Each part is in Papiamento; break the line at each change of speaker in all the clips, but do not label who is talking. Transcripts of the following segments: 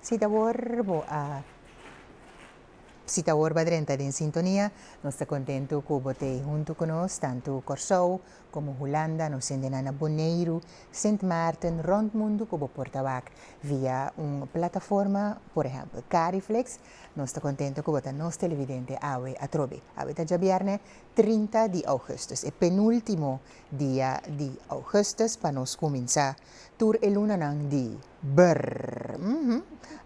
Si ta awor bo a si ta awor bo a drenta den sintonia nos ta kontentu ku bo ta huntu ku nos tantu Kòrsou komo Hulanda nos hende nan na Boneiru, Sint Maarten, rònt mundu ku bo por ta wak via un plataforma por ehèmpel Cariflex Nos ta contento cu bo ta nos televidente awe atrobe. Awe ta djabierne trinta di augustus, e penultimo dia di augustus pa nos cuminsa tur e lunanan di br. Mh.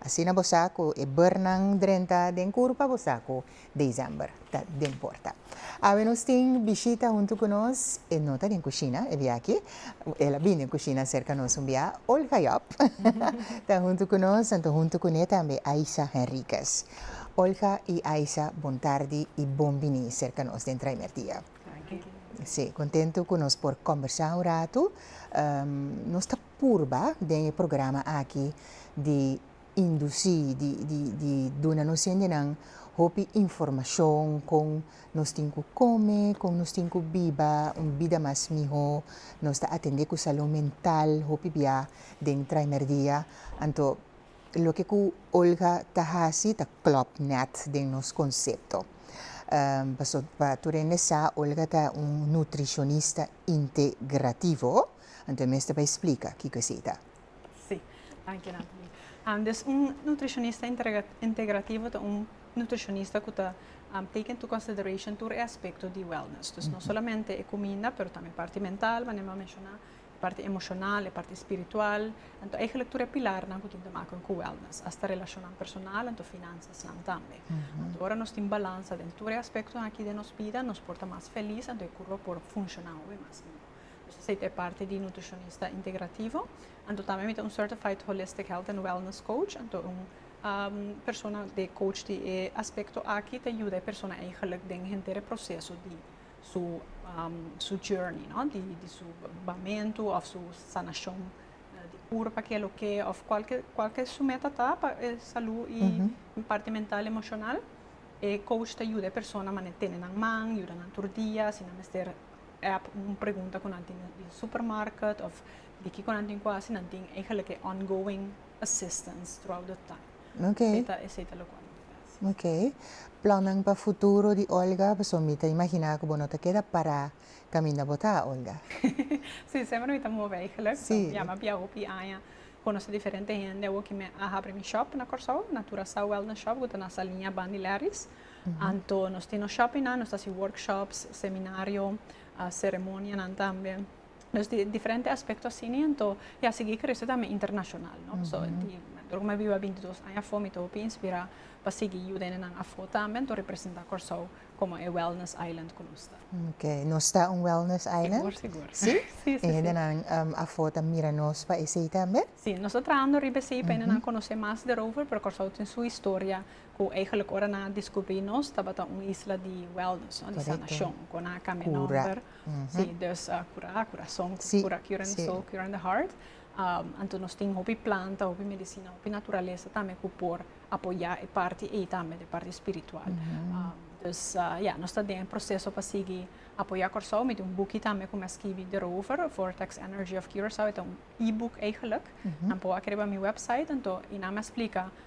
Asina bo sa cu e brnan drenta den curpa bo sa cu december. ta den porta. Awe nos tin bishita huntu cu nos, e no ta den cushina e biachi, el a bin den cushina cerca nos un bia, Olga Job ta huntu cu nos, anto huntu cu ne tambe Aisha Henriquez. Olga y Aisha bon tardi y bon bini cerca nos den Traimer Dia. Si, contento cu nos por combersa un ratu, nos ta purba den e programa aki di indusí di di di duna nos hendenan hopi informashon kon nos tin ku kome, kon nos tin ku biba un bida mas mihó, nos ta atendé ku salun mental hopi biá den traimer dia. Anto loke ku Olga ta hasi ta klòp nèt den nos konsepto. Paso pa tur hende sa Olga ta un nutrishonista integrativo, anto e mester pa e splika kiko esei ta. Sí. Danki Nathalie. Um, dus un nutricionista integrativo ta un nutricionista ku ta um, take into consideration tur e aspecto di wellness. Dus mm -hmm. no solamente e comida, pero también e parte mental, wanneer mm-hmm. we mencionar, e parte emocional, e parte spiritual. Entonces, eigenlijk tur e pilarnan ku tin te maken ku wellness, hasta relacionan personal, entonces finanzas nan también. Mm -hmm. Entonces, ora nos tin balansa den tur e aspecto aki den nos vida, nos por ta mas feliz, entonces e curva por funcionan we mas mihor. Esei ta e parti di nutrishonista integrativo, anto tambe mi ta un certified holistic health and wellness coach, anto un persona di coach di e aspecto aki ta yuda e persona eigenlijk den henter e proceso di su su journey no di su bamentu of su sanashon di pur pa ke loke of cual ke su meta ta pa e salu y parti mental y emocional e coach ta yuda e persona manera tene nan man yuda nan tur dia si nan mester App un pregunta ku nan tin den supermarket of di kiko nan tin ku hasi nan tin eigenlijk e ongoing assistance throughout the time. Ok. Esei ta esei ta loke nan tin hasi. Ok. Plannan pa futuro di Olga pasobra mi ta imaginá ku bo no ta keda pará kaminda bo ta Olga. Sí, semper mi ta move eigenlijk. Sí. Mi a map ya hopi aña konosé diferente hende. Awor ki mi a habri mi shòp na Kòrsou, Natura Sa Wellness Shop ku ta na Saliña Bandi Lèris. Anto nos tin nos shopingnan, nos ta hasi workshops, seminario, ceremonianan tambe. Dus di diferente aspekto asina, anto ya a sigui krese tambe internashonal. So, di manera ku mi a biba binti dos aña afó, mi ta hopi inspirá pa sigui yuda hende nan afó tambe, anto representá Kòrsou komo e wellness island ku nos ta. Ok, nos ta un wellness island? Sigur, sigur. Sí? Sí, sí, sí. E hende nan afó ta mira nos pa esei tambe? Sí, nos ta trahando riba esei pa hende nan konosé mas derover, pero Kòrsou tin su historia Cu eigenlijk ora nan a descubri nos tabata un isla di wellness, no? Di sanacion, cu nan a cambia nomber, si, dus cura, cura song, cura, curing the soul, curing the heart. Anto nos tin hopi planta, hopi medicina, hopi naturalesa tambe cu por apoya e parti ey tambe, e parti spiritual. Dus, ya, nos ta den e proceso pa sigui apoya Corsou, mi tin un buki tambe cu mi a skibi derover, Vortex Energy of Curacao, e ta un e-book eigenlijk, nan por wak riba mi website, anto, y nan mi a splica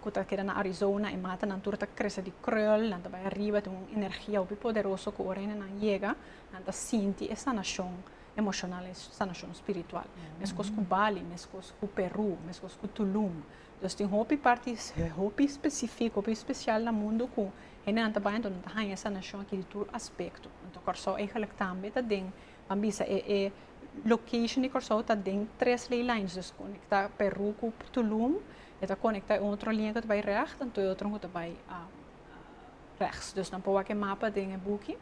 ku ta keda na Arizona, e matanan tur ta krese di krèl, nan ta bai ariba, tin un energia hopi poderoso ku ora nan yega, nan ta sinti e sanashon emoshonal, e sanashon spiritual. Meskos ku Bali, meskos ku Perú, meskos ku Tulum. Entonces tin hopi parti hopi spesifiko, hopi spesial na mundu ku hendenan ta bai, anto nan ta haña e sanashon aki di tur aspekto. Anto Kòrsou eigelijk tambe ta den Nan bisa e e location di Kòrsou ta den tres ley lines dus konekta Peru ku Tulum e ta konekta e otro linea ku ta bai rècht anto e otro ku ta bai rèks dus nan por wak e mapa den e buki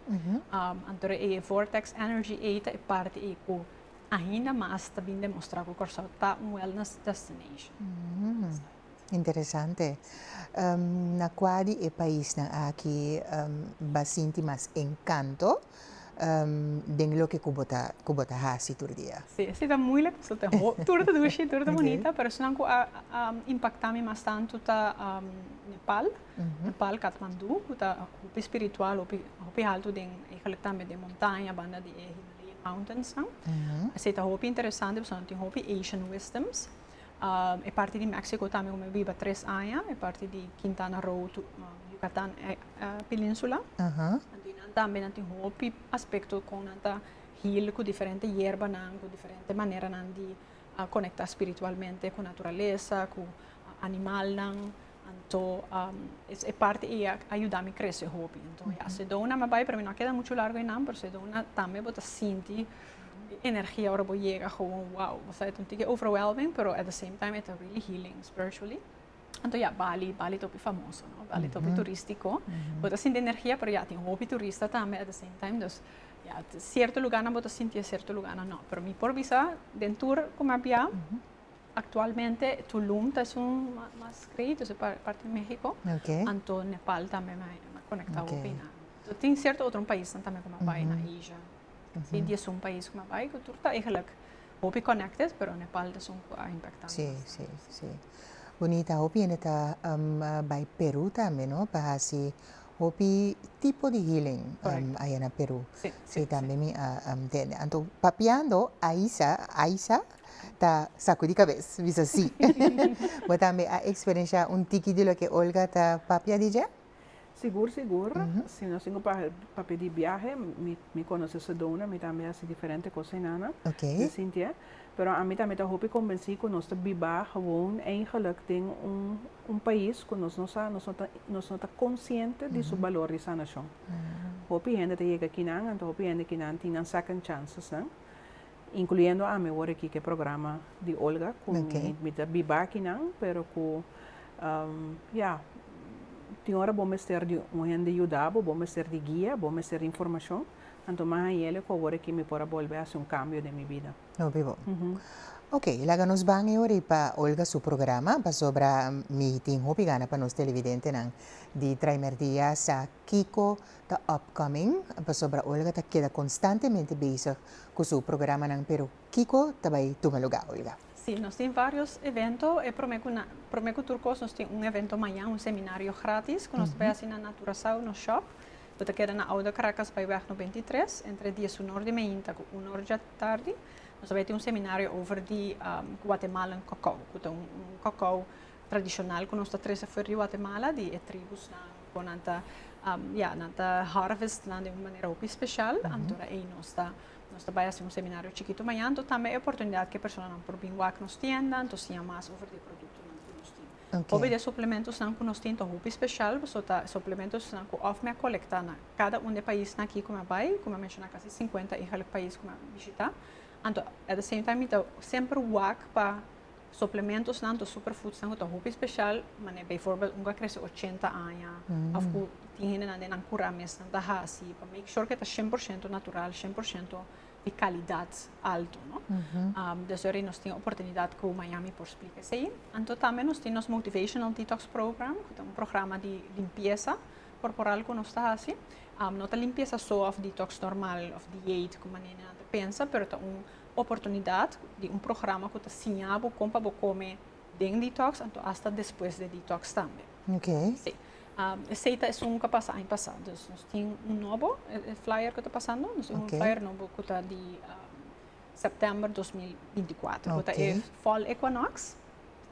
anto e vortex energy ei ta e parti ei ku ainda mas ta bin demostrá ku Kòrsou ta un wellness destination. Interesante. Na kua di e paisnan aki ba sinti mas enkanto den loke ku bo ta hasi tur dia? Si, esta ta muilik pasobra ta ho, tur ta dushi, tur ta bunita, pero esnan ku a impaktá mi mas tantu ta Nepal, Nepal, Katmandú, ku ta hopi spiritual, hopi hopi haltu den, eigenlijk tambe den montaña banda di e Himalayan Mountains nan. Esei ta hopi interesante pasobra tin hopi Asian wisdoms. E parti di Mexico tambe cu mi a biba tres aña, e parti di Quintana Roo, Yucatan peninsula. Anto y nan tambe nan tin hopi aspecto con nan ta heal cu diferente yerbanan, cu diferente maneranan di conecta spiritualmente cu naturaleza, cu animalnan. Anto es e parti ei a yuda mi krese hopi. Anto ya, se dona mi bai, pero mi no a keda muchu largo einan, pero se dona tambe bo ta sinti e energia ora bo yega gewoon wow. Bo sabi ta un tiki overwhelming, pero at the same time e ta really healing spiritually. Anto ya, Bali, Bali ta hopi famoso, no? Bali ta hopi turistiko. Bo ta sinti energia, pero ya, tin hopi turista tambe at the same time. Dus, ya, sierto lugarnan bo ta sinti e, sierto lugarnan no. Pero mi por bisa den tur ku mi a bia, Actualmente Tulum ta esun mas credido si parti Mexico, anto Nepal tambe mi a conecta hopi na. So tin cierto otro paisnan tambe cu mi a bay na Asia. Así di esun pais cu mi a bay cu tur ta eigenlijk hopi connected pero Nepal ta esun cu a impacta mi bastante. Bonita, hopi hende ta bay Peru tambe no? Pa haci hopi tipo di healing aya na Peru. Si tambe mi a ntende. Anto papiando Aisa, Aisa? ta sakudi kabes bisa si. Bo tambe a eksperenshá un tiki di loke Olga ta papia di dje? Sigur, sigur. Si nos tin ku papia di biahe, mi konosé Sedona, mi tambe a hasi diferente kos hinana den Sintié. Pero ami tambe ta hopi kombensí ku nos ta biba gewoon eigenlijk den un pais ku nos no sa, nos no ta konsiente di su balor di sanashon. Hopi hende ta yega kinan, anto hopi hende kinan tin nan second chances nan. Incluyendo ami awor aki cu e programa di Olga cu mi ta biba aki nan pero cu ya tin ora bo mester di un hende yuda bo, bo mester di guia, bo mester di informacion, anto mas añele cu awor aki mi por a bolbe hasi un cambio den mi bida. Hopi bo. Ok, laga nos ban e ori pa Olga su programa pasobra mi tin hopi gana pa nos televidentenan di Traimerdia sa Kiko ta upcoming pasobra Olga ta keda konstantemente bezig ku su programanan pero Kiko ta bai tuma lugá Olga? Sí, nos tin vários evento, e promé ku na promé ku tur kos nos tin un evento mañan, un seminario grátis ku nos ta bai hasi na Naturasao, nos shòp ku ta keda na Oude Karakas bai wèg no binti tres, entre dies uno or di mainta ku uno or dja tardi, nos ta bai tin un seminario over di Guatemalan kokou ku ta un kokou tradishonal ku nos ta trese afuer di Guatemala di e tribusnan. Bo nan ta, um, ja, nan ta harvest nan de un manera hopi special, mm -hmm. antora ei nos ta, nos ta bai haci un seminario chiquito mañana, anto tambe e oportunidad que persona nan por bin wak nos tienda, anto siña mas over de producto nan cu nos tin. Okay. Hopi de suplementos nan cu nos tin ta hopi special, so ta suplementos nan cu of me a colecta na cada un de país na aquí cu me bai, cu me menciona casi 50 y half país cu me visita, anto at the same time mi ta semper wak pa Suplementosnan to superfoodsnan ku ta hopi speshal, manera beivoorbeeld un ku a krese ochenta aña òf ku tin hendenan den nan kura mes nan ta hasi pa make sure ku e ta shen por shento natural, shen por shento di kalidat alto, no? Desha ahori nos tin oportunidat ku Miami por splika esei. Anto tambe nos tin nos motivational detox program, ku ta un programa di limpiesa korporal ku nos ta hasi. No ta limpiesa so òf detox normal òf diet, kuma nan ta pensa, pero ta un oportunidad di un programa cu ta siña bo con pa bo come den detox anto hasta despues de detox tambe. Okay. Sí. Um, esey ta esun cu a pasa aña pasa. Dus nos tin un nobo e flyer cu ta pasando. Nos tin okay. un flyer nobo cu ta di um, september 2024. Okay. Cu ta e fall equinox.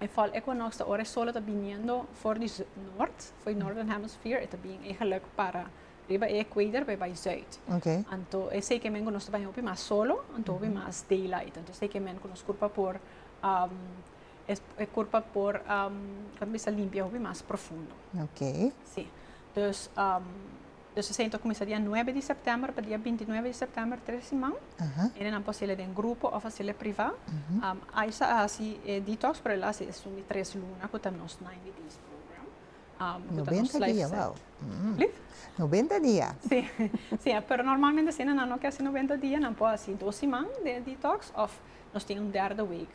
E fall equinox ta ora e sol ta biniendo for di noord, for di northern hemisphere. E ta bien eigenlijk para Riba e equator por e bai zuid. Okay. Anto esei kemen ku nos ta bai hopi mas solo, anto hopi mas daylight. Anto esei kemen ku nos kurpa por um, es, e kurpa por um, kan bisa limpia hopi mas profundo. Okay. Si. Dus um, dus esei anto kuminsa dia 9 di september pa dia 29 di september tres siman. Aha. En nan por hasi den grupo of hasi priva. Um, Aisa a hasi e detox, pero el a hasi esun di tres luna ku ta nos 90 days program. Nobenta dia wou. Lif? Nobenta dia. Si, si e pero normalmente si nan no ke hasi nobenta dia nan por hasi dos siman de detox of nos tin un derde week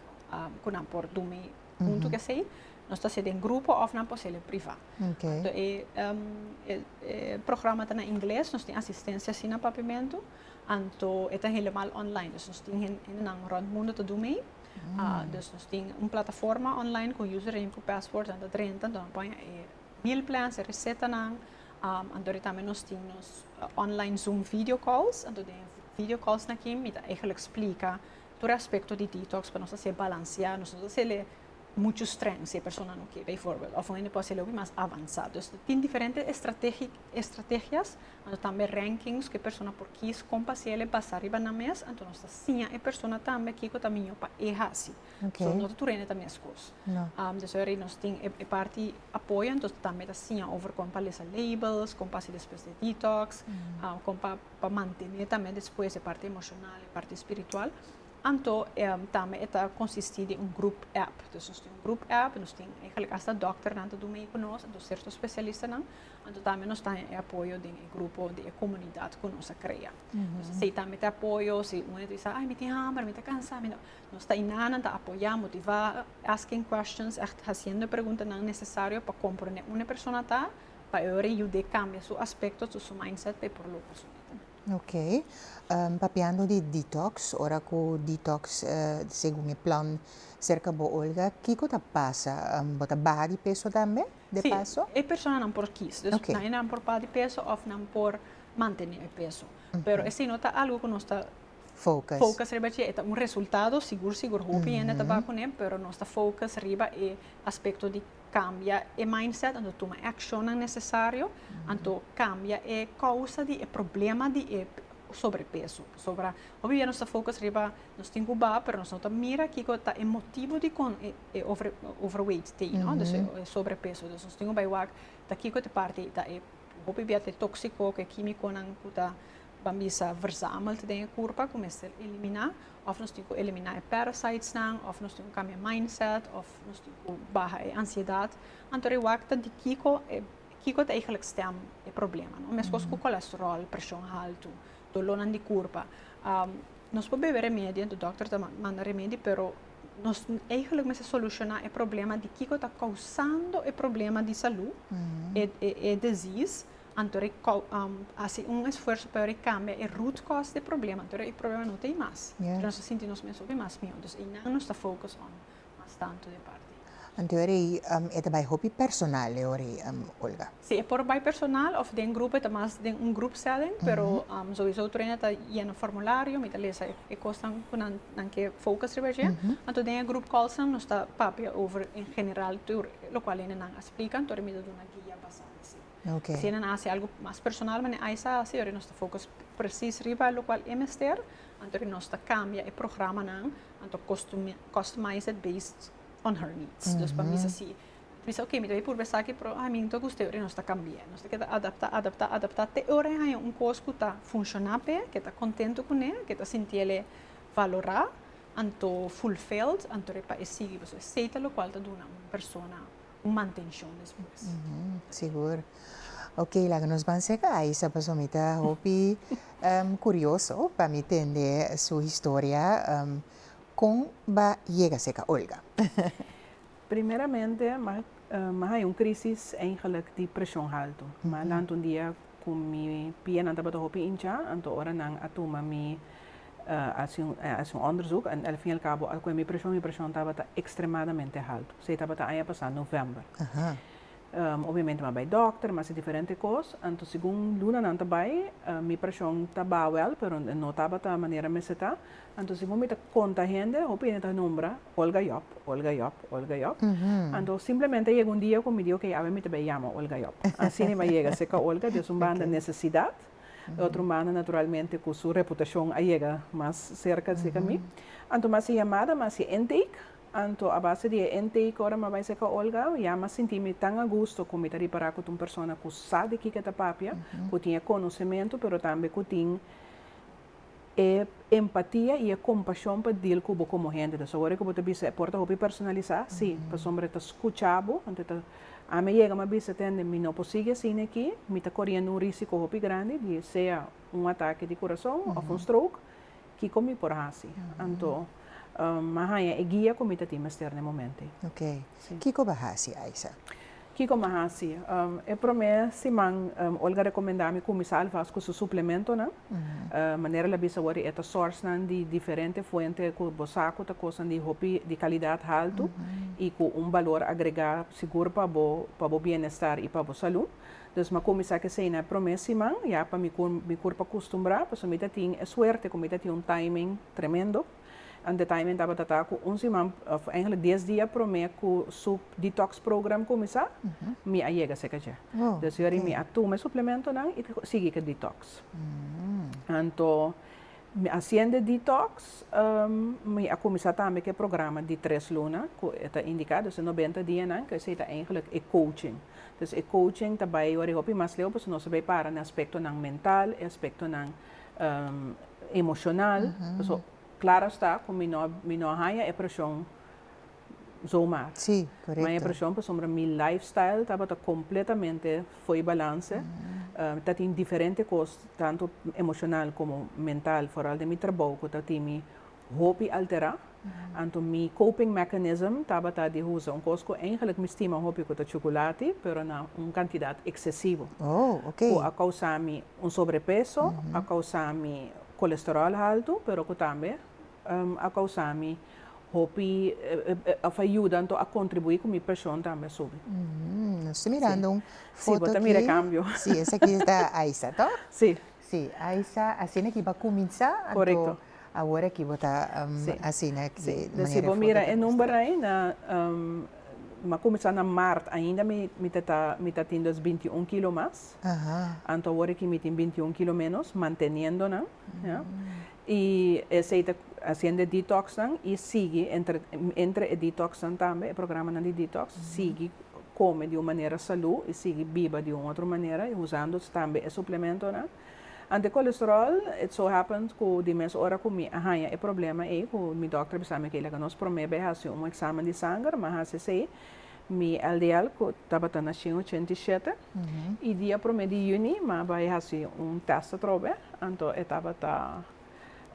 ku nan por dumi huntu ku esei nos ta hasi den grupo of nan por hasi el priva. Anto e programa ta na ingles nos tin asistensia si na papimentu anto e ta helemal online nos tin hende nan rònt mundu ta dumi ei. Dus nos tin un plataforma online ku username ku password nan ta drenta anto nan poña e meal plans, e resetanan, anto ri tambe nos tin nos online zoom video calls, anto den e video calls nakin mi ta eigenlik splika tur aspekto di detox pa nos hasié balansiá, nos no ta hasel'e muchu strèng si e persona no ke beivoorbeeld òf un hende por hasel'e hopi mas avansá. Dus tin diferente estrategias Anto tambe rankings ku e persona por kis kon pa si el e basa riba nan mes, anto nos ta siña e persona tambe kiko ta miño pa e hasi. Okay. So no ta tur hende ta meskos. No. Um, dus eri nos tin e, e parti apoyo, anto tambe ta siña over kon pa lesa labels, kon pa si despues de detox, mm. um, kon pa, pa mantene tambe despues e parti emocional, e parti spiritual. Anto um, tambe e ta consisti di un group app. Dus nos tin un group app, nos tin eigenlijk hasta dokternan ta do mee ku nos, anto certo specialistanan, Anto tambe nos ta e apoyo den e grupo di e komunidat ku nos a krea. Nos a seita mete apoyo, si un a di sa, ai mi tin hamber, mi ta kansa, mi no. Nos ta inanan, ta apoyá, motivá, asking questions, ègt hasiendo e preguntanan nesesario pa komprondé un e persona ta, pa e oir e yud'é kambia su aspekto, su su mindset pa e por logra su meta. Ok. Papiando di detox, ora ku detox segun e plan serka bo, Olga, kiko ta pasa? Bo ta baha di peso tambe? de paso? Sí, e personanan por kies. Dus okay. nan enan por padi peso of nan por mantene e peso. Mm -hmm. Pero ese no ta algo ku nos ta focus. focus riba dje. E ta un resultado, sigur, sigur, hopi mm -hmm. hende ta ba kuné, pero nos ta focus riba e aspekto di kambia e mindset, anto tuma e akshonan nesesario, mm -hmm. anto kambia e kousa di e problema di e sobrepeso. Pasobra hopi bia nos ta focus riba nos tin ku ba, pero nos no ta mira kiko ta e motibu di kon e e overweight te no dus e sobrepeso dus nos tin cu bay wak ta kico ta e parti ta e hopi bia t'e toxico cu e kimiconan cu ta ban bisa verzamel ta den e curpa cu mester elimina of nos tin cu elimina e parasites nan of nos tin cu cambia e mindset of nos tin cu baha e ansiedad anto e wak ta di kico kico ta eigenlic stem e problema no mescos cu cholesterol presion halto. Dolónan di kurpa. Nos por bebe remedi anto dòkter ta manda remedi pero nos eigelik mester solushoná e problema di kiko ta kousando e problema di salú, e desís, anto e hasi un esfuerso pa e kambia e root cause di e problema anto e problema no ta ei mas. Nos ta sinti nos mes hopi mas mihó. Entonces einan nos ta focus on. Mas tantu e parti. Anto e rei e ta bai hopi personal e ora ei, Olga? Si, e por bai personal of den grupo, e ta mas den un group setting, pero souiso tur hende ta yena formulario, mi ta lesa e cosnan cu nan ke focus riba dje. Anto den e group calls nan nos ta papia over en general tur locual hende nan a splica, anto mi ta duna guia basa na si. Si hende nan a hasi algo mas personal mane Ais a hasi, ora nos ta focus precies riba locual e mester, anto nos ta cambia e programanan Anto customized based on her needs. Dus pa mi sa si. Mi sa ok, mi ta bin purba esaki, pero a mi anto gusta e ora nos ta cambi'e. Nos ta keda adapta, adapta, adapta te e ora e haya un cos cu ta funciona p'e, cu e ta contento cun'e, cu e ta sinti el'e valora, anto fulfilled, anto repa e sigui. Pasobra esey ta locual ta duna un persona. un mantenshon despues. Sigur. Ok, laga nos ban seka Aisa pasobra mi ta hopi kurioso pa mi tende su historia. Kon bo a yega seka Olga? Primeramente, mi a haña un krísis eigenlijk di preshon haltu. Mi a lanta un dia Ku mi pienan tabata hopi inchá, anto ora nan a tuma mi, a hasi un òndersuk, en el fin y el kabo a ku'e mi preshon, mi preshon tabata ekstremadamente haltu. Si ei tabata aña pasá novèmber. Obiamente mi a bai dòkter, mi a hasi diferente kos, anto segun lunanan ta bai, mi preshon ta ba wèl, pero no tabata manera mester ta. Anto si bo mita konta hende, hopi hende ta nombra Olga Job, Olga Job, Olga Job. Anto simplemente yega un dia ku mi di oke, awe mi ta bai yama Olga Job. Asina i bai yega serka Olga, des un banda nesesidat, di otro banda naturalmente ku su reputashon a yega mas serka serka mi. Anto mi hasi e yamada, mi hasi e intake, anto a base di e intake ora mi a bai serka Olga, ya mi a sinti mi tan agusto ku mi ta ripará ku ta un persona ku sa di kiko e ta papia, ku tin e konosementu pero tambe ku tin e empatia i e kompashon pa dil ku bo komo hende. Entonces awor e ku bo ta bisa e por ta hopi personalisá, sí, pasobra e ta skucha bo, enton e ta, ami a yega mi a bisa, tende, mi no por sigui asina aki, mi ta koriendo un risiko hopi grandi di sea un atake di kurason òf un stroke, kiko mi por hasi? Anto mi a haña e guia ku mi ta tin mester na e momento ei. Kiko bo a hasi, Aiza? Kiko mi a hasi? E promé siman Olga rekomendá mi kuminsá alvast ku su suplementonan. Manera el a bisa wòrdu, e ta sòrsnan di diferente fuente ku bo sa ku ta kosnan di hopi di kalidat haltu i ku un balor agregá sigur pa bo, pa bo bienestar i pa bo salú. Dus mi a kuminsá ku eseinan e promé siman ya pa mi kurpa kustumbrá pasobra mi ta tin e suerte ku mi ta tin un timing tremendo. En de timing tabata ta ku un siman, of eigenlijk dies dia promé ku su detox program kuminsá, mi a yega seka dje. Dus yori mi a tuma e suplementonan i sigui ku e detox. Anto mi a hasiendo e detox, mi a kuminsá tambe ku e programa di tres luna ku e ta indiká, dus e nobenta dianan, ku esei ta eigenlijk e coaching. Dus e coaching ta bai yori hopi mas leu pasobra nos a bai para na aspektonan mental, e aspektonan emocional, pasobra claro esta cu mi no mi no a haya e presion zomaar. Si, correcto. Mi a haya e presion pasobra mi life style tabata completamente fooi balance, ta tin diferente cos tanto emocional como mental, foral den mi trabou cu ta tinmi. hopi alterá. Anto mi coping mechanism tabata di usa un cos cu eigenlijk mi stima hopi cu ta chuculati pero na un cantidad excesivo. Oh, ok. Cu a causa mi un sobrepeso, a causa mi colesterol halto pero cu tambe a causa mi hopi of a yuda anto a contribui cu mi presion tambe a subi. Nos ta mirando un foto aki. Si, bo ta mira e cambio. Si, esaki ta Aisa, toh? Si. Sí, ai sa asina ki bo a kuminsá, anto awor aki bo ta asina de manera enfoka. Pues si bo mira e number ai na mi a kuminsá na mart ainda mi ta ta mi ta tin dos binti un kilo mas, anto awor aki mi tin binti un kilo ménos manteniendo nan. Y esey ta haciendo e detox nan y sigui entre entre e detox nan tambe, e programanan di detox, sigui come di un manera salu y sigui biba di un otro manera y usando tambe e suplementonan. Ante colesterol, it so happens cu di mes ora cu mi a haya e problema ey, cu mi dokter a bisami, ok, laga nos prome beh haci un examen di sanger, mi a haci esey, Mi LDL cu tabata naci en ochenta y shete y dia prome di juni mi a bay haci un test atrobe anto e tabata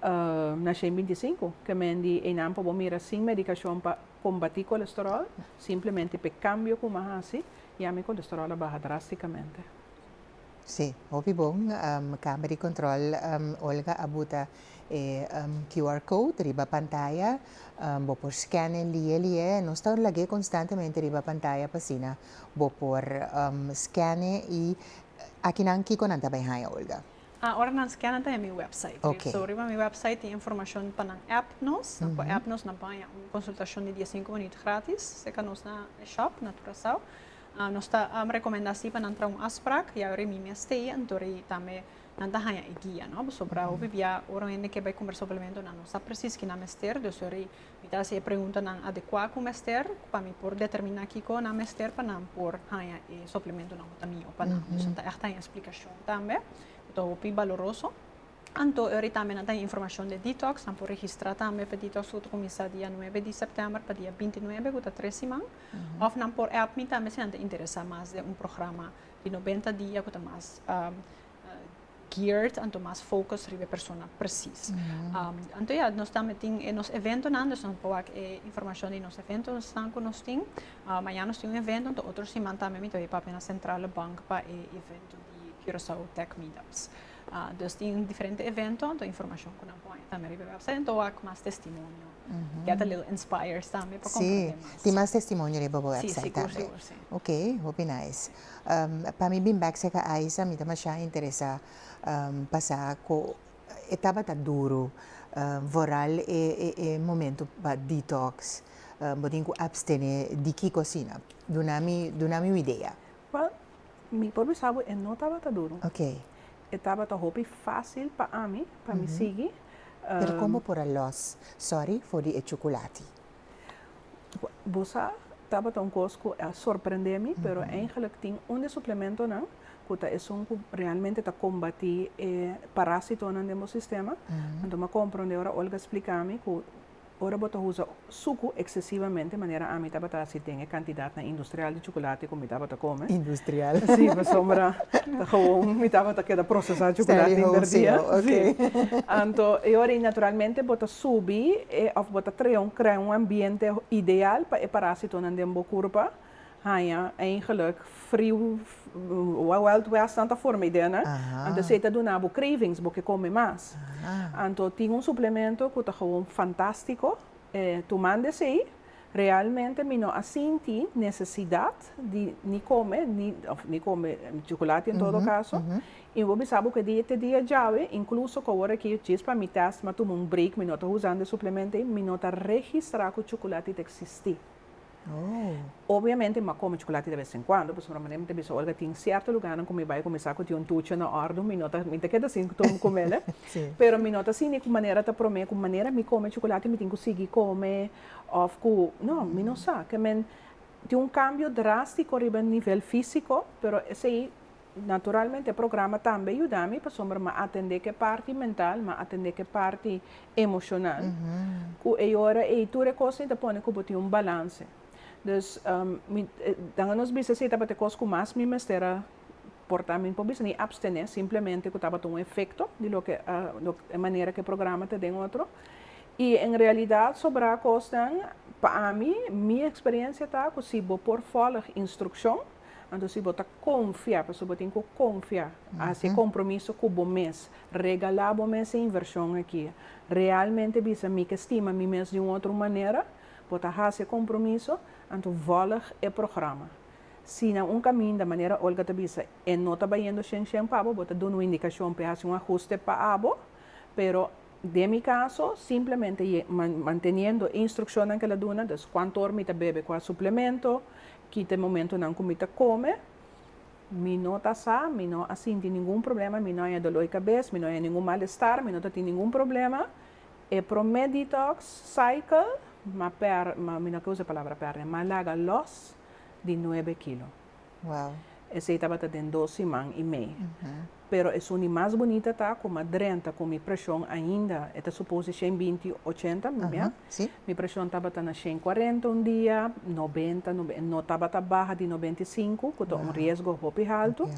naci en binti sinku. Ke mendi eynan por bo mira sin medicacion pa combati colesterol, simplemente pe cambio cu mi a haci ya mi colesterol a baha drasticamente. Sí, hopi bon. Kamer di Kontròl Olga a buta e QR code riba pantaya. Bo por scan e lia li'e. Nos ta lag'e konstantemente riba pantaya pa asina bo por scan'e i aki nan kiko nan ta bai haña Olga? A ora nan scan'a ta den mi wèpsait. Ok. So riba mi wèpsait tin informashon pa nan app nos. Nan por app nos, nan por haña un konsultashon di dies sinku minüt gratis serka nos na e shòp na Kurasao. Nos ta recomenda si pa nan traha un afsprak, ya ori mi mes ta i, anto ori tambe nan ta haña e guia, no? Pasobra pues hopi bia ora un hende ke bai conversa op elemento nan no sa precies kinan mester, dus ori mi ta haci e preguntanan adecua cu mester pa mi por determina kico nan mester pa nan por haña e suplementonan cu ta miyo pa nan. Dus nan ta echt haña explicacion tambe, cu ta hopi baloroso. Anto e ori tambe nan ta informashon di Detox, nan por registrá tambe pa Detox ku ta kuminsá dia nuebe di sèptèmber pa dia binti nuebe ku ta tres siman, òf nan por èp mi tambe si nan ta interesá mas den un programa di nobenta dia ku ta mas geared anto mas focus riba e persona presis. Anto ya, nos tambe tin e nos eventonan, dus nan por wak e informashon di nos eventonan ku nos tin. Mañana nos tin un evento, anto otro siman tambe mi ta bai papia na Centrale Bank pa e evento di Curaçao Tech Meetups. Nos tin diferente evento anto informacion cu nan pone tambe riba e website anto wak mas testimonio get a little inspired tambe pa comprende mas. Si tin mas testimonio riba bo website tambe. Si si sigur sigur si. Ok hopi nice pa mi bin bek seka aisa mi ta masha interesa pasa cu e tabata duro vooral e momento pa detox bo tin cu abstene di ki cocina duna mi duna mi un idea. Well, mi por bisa bo e no tabata duru. Ok. E tabata hopi fácil pa ami, pa mi sigui. Pero kon bo por a lòs sòri for di e chukulati? Bo sa, tabata un kos ku a sorprendé mi, pero eingelik tin un di e suplementonan ku ta esun ku realmente ta kombatí e parásitonan den bo sistema. Anto mi a komprondé ora Olga splika mi ku Ora bo ta usa suku eksesivamente manera ami tabata hasi den e kantidadnan industrial di chukulati ku mi tabata kome. Industrial. Sí, pasobra ta gewoon mi tabata keda prosesá chukulati hògè dia. Sí. Anto e ora ei naturalmente bo ta subi e òf bo ta trea un krea un ambiente ideal pa e parásitonan den bo kurpa. haña eigenlijk friu Wild West tanta forma i den. Anto esei ta duna bo cravings, bo ke kome mas. Anto tin un suplemento ku ta gewoon fantástiko. Tumando esei realmente mi no a sinti nesesidat di ni kome, ni òf ni kome chocolate en todo caso. I mi por bisa bo ku e dia te dia djawe, incluso ku awor aki djis pa mi test mi a tuma un break, mi no ta usando e suplemento ei, mi no ta registra ku chocolate ta existi. Obviamente mi a kome chocolate de vez en cuando, pasobra manera mi ta bisa Olga tin cierto lugarnan cu mi bai cu mi sa cu tin un tuchi na ordu, mi no ta, mi ta keda sin cu mi comela, pero mi no ta asina cu manera ta prome cu manera mi come chocolate mi tin cu sigui come of cu, no, mi no sa, kè men tin un cambio drastico riba nivel fisico, pero esei. Naturalmente e programa tambe yuda mi pasobra m'a atendé ku e parti mental, m'a atendé ku e parti emoshonal. Ku e ora ei tur e kosnan ta pone ku bo tin un balanse. Dus mi dan a nos bisa si tabata e kos ku mas mi mester a portá, mi por bisa ni apstené simplemente ku tabata un efekto di loke e manera ku e programa ta den otro. I en realidat sobrá kosnan, pa ami, mi eksperensia ta ku si bo por fòlg instrukshon, Anto si bo ta konfia, pasobra bo tin ku konfia, hasi e kompromiso ku bo mes. Regalá bo mes e invershon akí. Realmente bisa, mi ke stima mi mes di un otro manera. Bo ta hasi e kompromiso, anto vòlg e programa. Si na un kaminda, manera Olga ta bisa, e no ta bayendo shen shen pa bo, bo ta duna un indikashon pa e hasi un ahuste pa abo, pero, Den mi caso, simplemente y manteniendo e instruccionnan que el a duna, dus cuanto or mi ta bebe cua suplemento, kita e momentonan cu mi ta come, mi no ta sa, mi no a sinti ningun problema, mi no haya dolor di cabes, mi no haya ningun malestar, mi no ta tin ningun problema. E prome detox cycle m'a per, mi no a kier usa e palabra perd'e, m'a laga los di nuebe kilo. Esey tabata den dos siman y mey. Pero e suni mas bunita ta cu m'a drenta cu mi presion ainda, e ta suppose di shen binti ochenta, mira, mi presion tabata na shen cuarenta un dia, nobenta, no tabata baha di nobenta y sinku, cu ta un riesgo hopi haltu.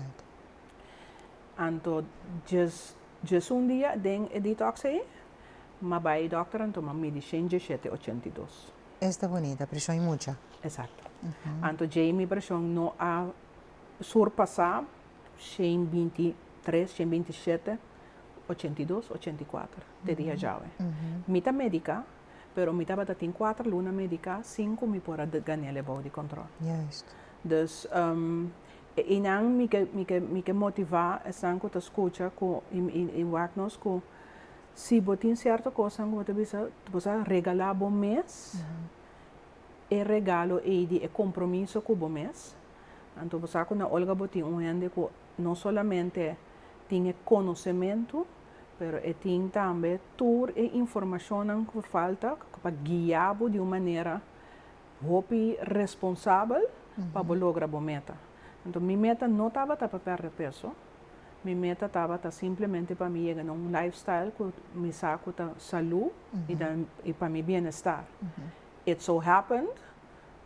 Anto djes, djesun dia den e detox ey, m'a bay dokter anto m'a midi shen dieshete ochenta y dos. Esta bonita, preshon i mucha. Exacto. Anto djei mi preshon no a surpasá shen binti tres, shen binti shete, ochenta i dos, ochenta i kuater te dia djawe. Mi ta mediká, pero mi tabata tin kuater luna mediká sin ku mi por a ganel e bou di kòntròl. Juist. Dus, e einan mi ke mi ke mi ke motivá esnan ku ta skucha ku i wak nos ku Si bo tin cierto cosanan cu bo ta bisa bo sa regala bo mes, e regalo ey di e compromiso cu bo mes. Anto bo sa cu na Olga bo tin un hende cu no solamente tin e conocemento, pero e tin tambe tur e informacionnan cu por falta pa guia bo di un manera hopi responsabel pa bo logra bo meta. Anto mi meta no tabata pa perde peso. Mi meta tabata simplemente pa mi yega na un lifestyle cu mi sa cu ta salu y ta y pa mi bienestar. It so happened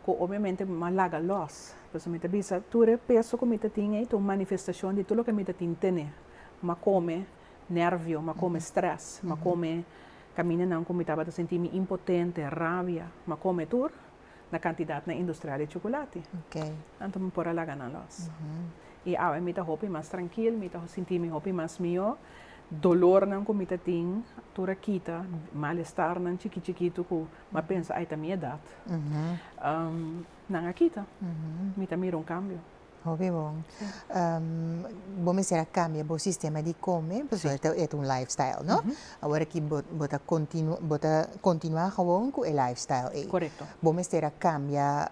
cu obviamente mi a laga los, pasobra mi ta bisa tur e peso cu mi ta tin ei ta un manifestacion di tur loke mi ta tin tene. Mi a come nervio, mi a come stress, mi a come caminanan cu mi tabata sinti mi impotente, rabia, mi a come tur. Na kantidatnan industrial di chukulati. Anto mi por a laga nan lòs. I awe mi ta hopi mas trankil, mi ta sinti mi hopi mas mihó. Dolornan ku mi ta tin tur a kita, malestarnan chiki chikitu ku mi a pensa, ai ta mi edat, nan a kita. Mi ta mira un kambio. Hopi bon. Bo mester a cambia bo sistema di come pasobra e ta eta un life style no? Awor aki bo bo ta continu bo ta continua gewoon cu e life style ey. Correcto. Bo mester a cambia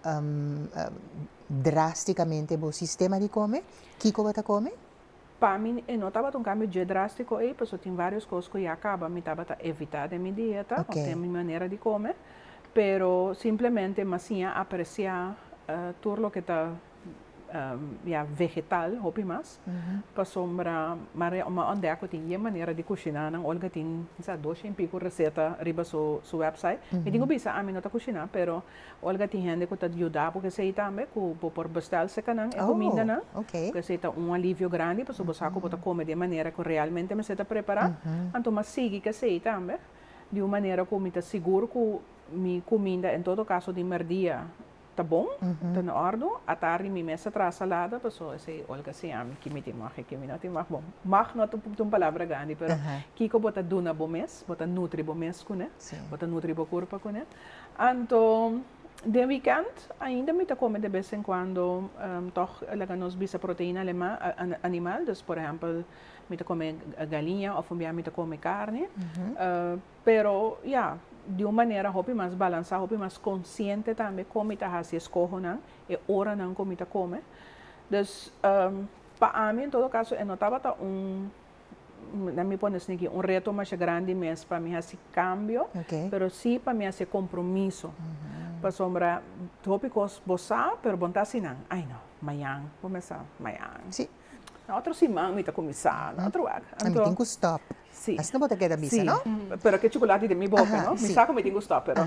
drasticamente bo sistema di come, kico bo ta come? Pa mi e no tabata un cambio dje drastico ey pasobra tin varios cos cu ya caba mi tabata evita den mi dieta of Okay. den mi manera di come pero simplemente masiña aprecia tur loke ta ya vegetal hopi mas pasobra ma ontdek ku tin ye manera di kushiná nan Olga tin kisa dos sien piko reseta riba su wèpsait mi tin ku bisa ami no ta kushiná pero Olga tin hende ku ta yuda ku kesei tambe ku bo por bèstèl seka nan e kumindanan ku esei ta un alivio grandi pasobra bo sa ku bo ta kome di e manera ku realmente mester ta prepará anto m'a sigui kesei tambe di un manera ku mi ta sigur ku mi kuminda en todo kaso di mèrdia ta bon, ta na ordo, a ta ari mi mes a traha salada, paso esei Olga siña mi ki mi tin mag i ki mi no tin mag. Bon, mag no ta un palabra grandi, pero kiko bo ta duna bo mes, bo ta nutri bo mes kuné, bo ta nutri bo kurpa kuné. Anto den wikènt ainda mi ta kome de bes en kuando, tòg laga nos bisa proteina animal, dus por ehèmpel mi ta kome galiña òf un bia mi ta kome karni. Pero, ya, di un manera hopi mas balansá, hopi mas konsiente tambe kon mi ta hasi eskohonan, e oranan ku mi ta kome. Dus, pa ami en todo kaso e no tabata un, lèt mi pone esaki, un reto masha grandi mes pa mi hasi kambio, pero si pa mi hasi e kompromiso. Pasobra hopi kos bo sa, pero bo no ta hasi nan. Ai no, mañan bo mester, mañan, na otro siman mi ta kuminsá, na otro wak. Anto, Si. Esnan bo ta keda bisa no. Pero ke chocolate den mi boca no mi sa cu mi tin cu stop pero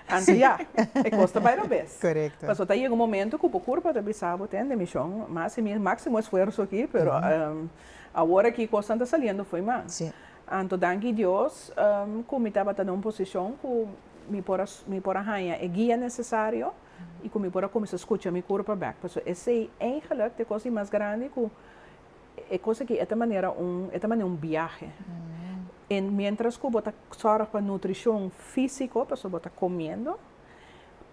anto ya e cos ta bay robes paso ta yega un momento cu bo curpa ta bisa bo ten demishon ma haci mi maximo esfuerzo aki pero awor aki cosnan ta saliendo fo'i mas anto danki Dios cu mi tabata na un posicion cu mi por a mi por a haya e guia necesario y cu mi por a cuminsa scucha mi curpa bek paso esey eigenlijk ta e cos di mas grandi cu e kos aki e ta manera un e ta manera un biahe. En mientras ku bo ta sòrg pa nutrishon físiko, pasobra bo ta komiendo,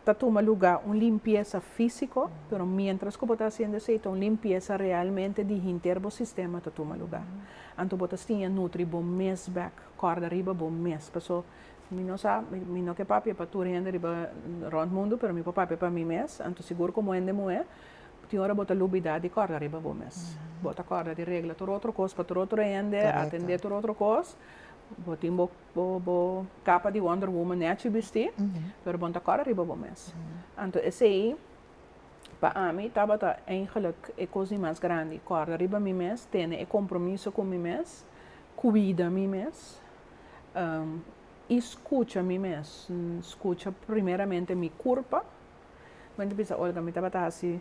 ta tuma lugá un limpiesa físiko, pero mientras ku bo ta hasiendo esei ta un limpiesa realmente di hinter bo sistema ta tuma lugá. Anto bo ta stiña nutri bo mes bèk, kòrda riba bo mes. Paso mi no sa, mi mi no ke papia pa tur hende riba rònt mundu, pero mi por papia pa mi mes, anto sigur komo hende muhé, Tin ora bo ta lubida di kòrda riba bo mes. Bo ta kòrda di regla tur otro kos pa tur otro hende, atendé tur otro kos. Bo tin bo bo kapa di Wonder Woman nèchi bistí, pero bo no ta kòrda riba bo mes. Anto esei pa ami tabata eigentlik e kos di mas grandi, kòrda riba mi mes, tene e kompromiso ku mi mes, kuida mi mes i skucha mi mes. Skucha primeramente mi kurpa. Wen ta bisa, Olga, mi tabata hasi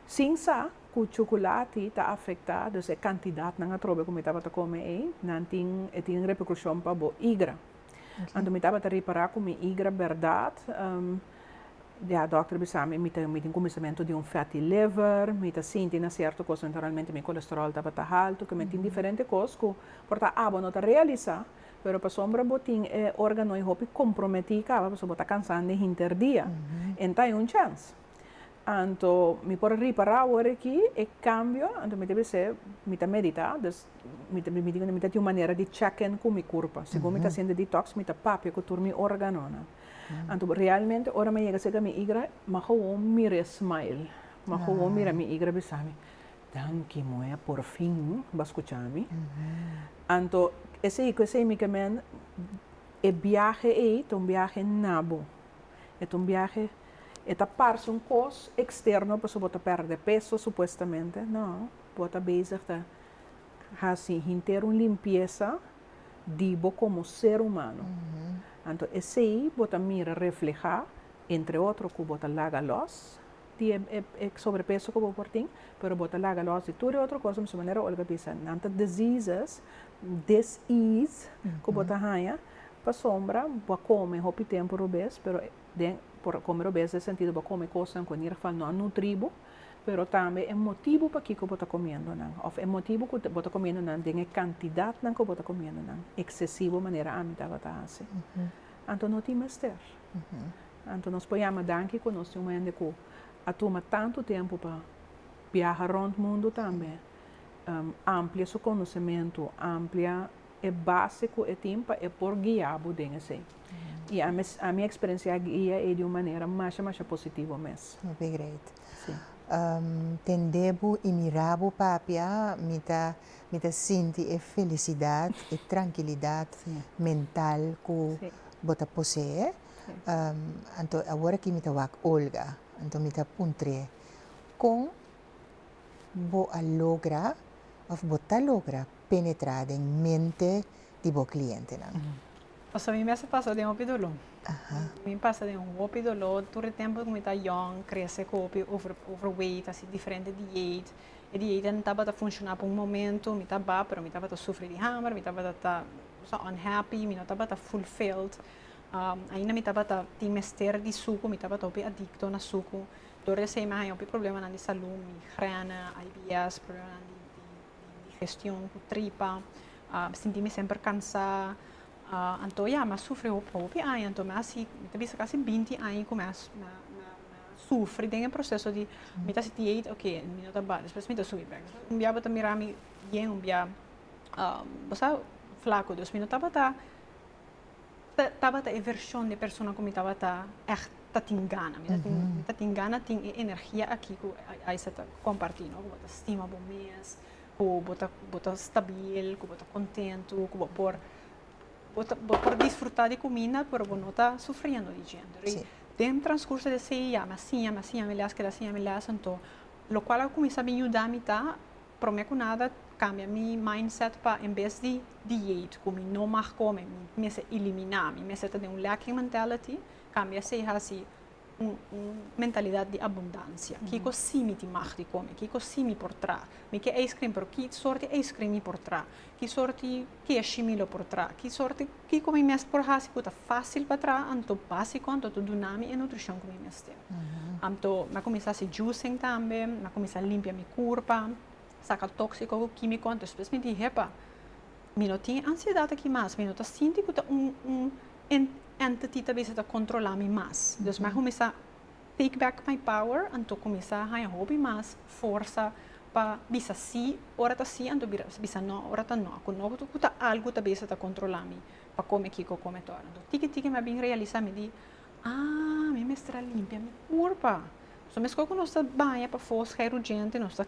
sin sa ku chocolati ta afecta, dus e cantidadnan atrobe ku mi tabata come ei, nan tin, e tin repercusion pa bo igra. Anto mi tabata ripara ku mi igra berdad, di a dokter bisami mi ta, mi tin kuminsamentu di un fatty liver, mi ta sinti na sierto kos, enteralmente mi kolesterol tabata haltu, ke me tin diferente kos ku por ta abo no ta realisa. Pero pasobra bo tin e organoe hopi comprometí caba pasobra bo ta cansá den hinter dia, en ta hay un chens. Anto mi por a ripará awor aki e cambio, anto mi ta bisa mi ta meditá, dus mi ta permití mi ta tin un manera di check in cu mi curpa. Segun mi ta haciendo detox mi ta papia cu tur mi organonan. Anto realmente ora mi a yega cerca mi higra mi a gewoon mira e smile, mi a gewoon mira mi higra bisami. Danki muhé, porfin bo a skucha mi. Anto esei ku esei mi ke mende e biahe ei ta un biahe na bo. E ta un biahe, e ta parse un kos eksterno pasobra bo ta pèrdè peso supuestamente, nò, bo ta bezig ta hasi henter un limpiesa di bo komo ser humano. Anto esei bo ta mira reflehá entre otro ku bo ta laga lòs. di e sobrepeso ku bo por tin, pero bo ta laga lòs di tur e otro kos, mester manera Olga bisa, nan ta diseases, dis-ease, ku bo ta haña, pasobra bo a kome hopi tempu robes, pero den por kome robes den e sentido bo a kome kosnan ku en ieder geval no a nutri bo, pero tambe e motibu pakiko bo ta komiendo nan, òf e motibu ku bo ta komiendo nan den e kantidatnan ku bo ta komiendo nan eksesivo manera ami tabata hasi, anto no tin mester. Anto nos por yama danki ku nos tin un hende ku a tuma tantu tempu pa biaha rònt mundu tambe, amplia su konosementu, amplia e base ku e tin pa e por guia bo den esei. I ami ami eksperensiá e guia ei di un manera masha masha positivo mes. Mi begrijp. Si. Tende bo i mira bo papia mi ta mi ta sinti e felisidat, e trankilidat mental ku bo ta poseé. Anto awor aki mi ta wak Olga, anto mi ta puntr'é, Kon bo a logra òf bo ta logra penetrá den mente di bo klientenan? Pasobra mi mes a pasa den hopi doló. Mi pasa den hopi doló tur e tempu ku mi ta yòn, krese ku hopi over overweight, hasi diferente diet. E dieitnan tabata funshoná pa un momentu, mi ta ba, pero mi tabata sufri di hamber, mi tabata ta unhappy, mi no tabata fulfilled. Ainda mi tabata tin mester di suku, mi tabata hopi adicto na suku. Dor di esei mi a haña hopi problemanan di salú, migrène, IBS, problemanan di digestion ku tripa, mi sinti mi semper kansá. Anto ya, mi a sufri hopi aña, anto mi hasi, mi ta bisa kasi binti aña ku mi a sufri den e proseso di mi ta hasi dieta, oke, mi no ta bata, despues mi ta subi bek. Despues un bia bo ta mira mi bien, un bia bo sa flaku, dus mi no tabata Tabata e version de persona cu mi tabata echt ta tin gana. Mi ta tin, mi ta tin gana tin e energia aki cu Isa ta comparti, no? Cu bo ta stima bo mes, cu bo ta, bo ta stabil, cu bo ta contento, cu bo por, bo ta, bo por disfruta di cuminda pero bo no ta sufriendo di djento. Rei den transcurso di seis ya mi a siña, mi a siña mi les, keda siña mi les, anto locual a cuminsa bin yudami ta. Prome cu nada cambia mi mindset pa en bes di dieet cu mi no mag come mi mester elimina, mi mester ta den un lacking mentality, cambia esey haci un un mentalidad di abundancia. Kico si mi tin mag di come? Kico si mi por traha? Mi ke ice cream pero ki sort di ice cream mi por traha? Ki sorti keshi mi lo por traha? Ki sorti, kiko mi mes por hasi ku ta fásil pa traha anto básiko, anto ta duna mi e nutrishon ku mi mester? Anto mi a kuminsá hasi juicing tambe, mi a kuminsá limpia mi kurpa, saka tóksiko ku kímiko. Anto despues mi di, hepa, mi no tin e ansiedat akí mas, mi no ta sinti ku ta un un entity ta bisa ta kontrolá mi mas. Dus mi a kuminsá Take Back My Power anto kuminsá a haña hopi mas forsa pa bisa sí ora ta sí anto bisa no ora ta no, ku no ku ta algu ta bes a ta kontrolá mi pa kome kiko kome ta ora. Anto tiki tiki mi a bin realisá mi di, Ah, mi mester a limpia mi kurpa. So meskos ku nos ta baña pafó, skei rudjente, nos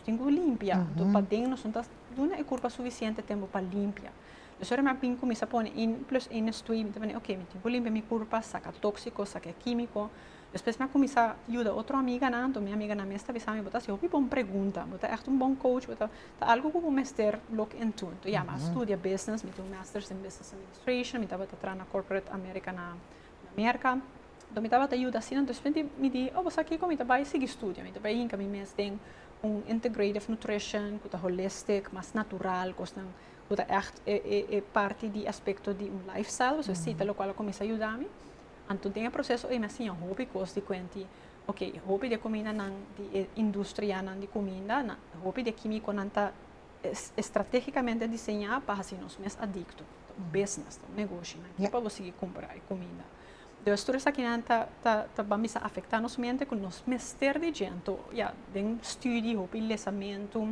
tin ku limpia. Anto paden nos no ta duna e kurpa sufisiente tempu pa limpia. Nos ora mi a bin cuminsa pone in plus in na stui mi ta bini ok mi tin cu limpia mi curpa saca toxico saca e quimico despues mi a cuminsa yuda otro amiganan enton mi amiganan mes ta bisa mi bo ta haci hopi bon pregunta bo ta echt un bon coach bo ta ta algo cu bo mester look into enton ya mi a studia business mi tin un masters in business administration mi tabata traha na corporate America na na Merca enton mi tabata yuda asina despues di mi di oh bo sa kico mi ta bay sigui studia mi ta bay hinca mi mes den un integrative nutrition cu ta holistic mas natural cosnan. Cu ta echt e parti di aspecto di un lifestyle, pasobra e cita locual a cuminsa yuda mi. Anto den e proceso ey mi a siña hopi cos di cuenti, ok, hopi di e cumindanan, di e industrianan di cuminda, nan, hopi di e quimico nan ta estrategicamente diseña pa haci nos mes adicto. Ta un business, ta un negoshi, nan ke pa bo sigui cumpra e cuminda. Entonces tur esakinan ta, ta, ta ban bisa afecta nos mente cu nos mester di djento, ya, den studi, hopi lesamento,